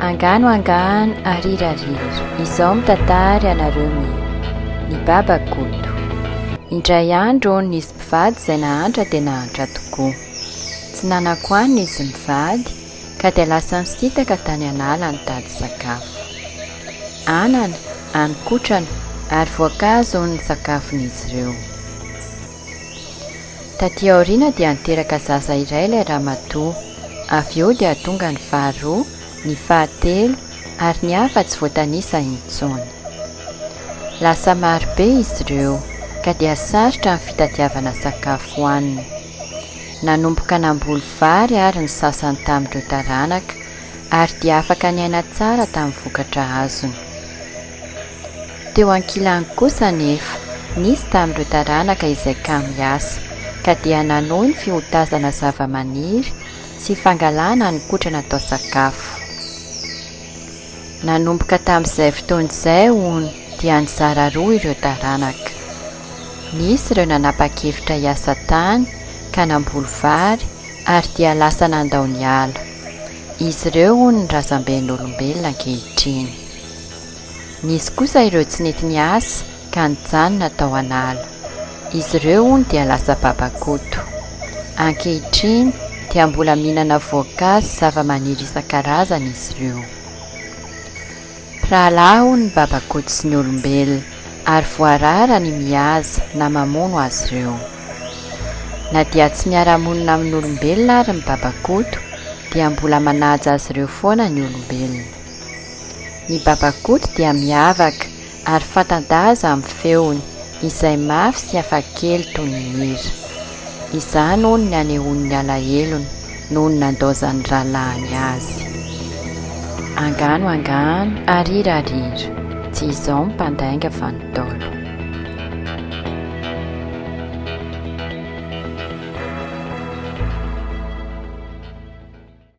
Angano angano ariry ariry izao mitatary anareo ny ny baba koto indray andro nisy mpivady izay nahantra dia nahantra tokoa tsy nanankoany izy mivady ka dia lasa nisintaka tany an'ala nitady sakafo. Anana, haninkotrana ary voankazo hono ny sakafon'izy ireo. Taty aoriana dia niteraka zaza iray ilay ramatoa, avy eo dia tonga ny faharoa, ny fahatelo ary ny hafa tsy voatanisa intsony. Lasa marobe izy ireo ka dia sarotra ny fitadiavana sakafo hohanina. Nanomboka namboly vary àry ny sasany tamin'ireo taranaka, ary dia afaka niaina tsara tamin'ny vokatra azony. Teo ankilany kosa anefa, nisy tamin'ireo taranaka izay kamo hiasa, ka dia nanohy ny fihotazana zavamaniry sy fangalana ny kotrana atao sakafo. Nanomboka tamin'izay fotoana izay, hono, dia nizara roa ireo taranaka. Nisy ireo nanapa-kevitra hiasa tany ka namboly vary ary dia lasa nandao ny ala. Izy ireo, hono, ny razamben'olombelona ankehitriny. Nisy kosa ireo tsy nety niasa ka nijanona tao an'ala. Izy ireo hono dia lasa babakoto. Ankehitriny dia mbola mihinana voankazo sy zavamaniry isan-karazany izy ireo. Mpirahalahy hono ny babakoto sy ny olombelona ary voarara ny mihaza na mamono azy ireo. Na dia tsy miara-monina amin'olombelona ary ny babakoto dia mbola manaja azy ireo foana ny olombelona. Ny babakoto dia miavaka Ary fanta-daza amin'ny feony. Izay mafy sy hafakely toy ny hira. Izany hono ny anehoan'ny alahelony noho ny nandaozan'ny rahalahiny azy. Angano angano, arira arira. Tsy izao ny mpandainga fa ny Ntaolo.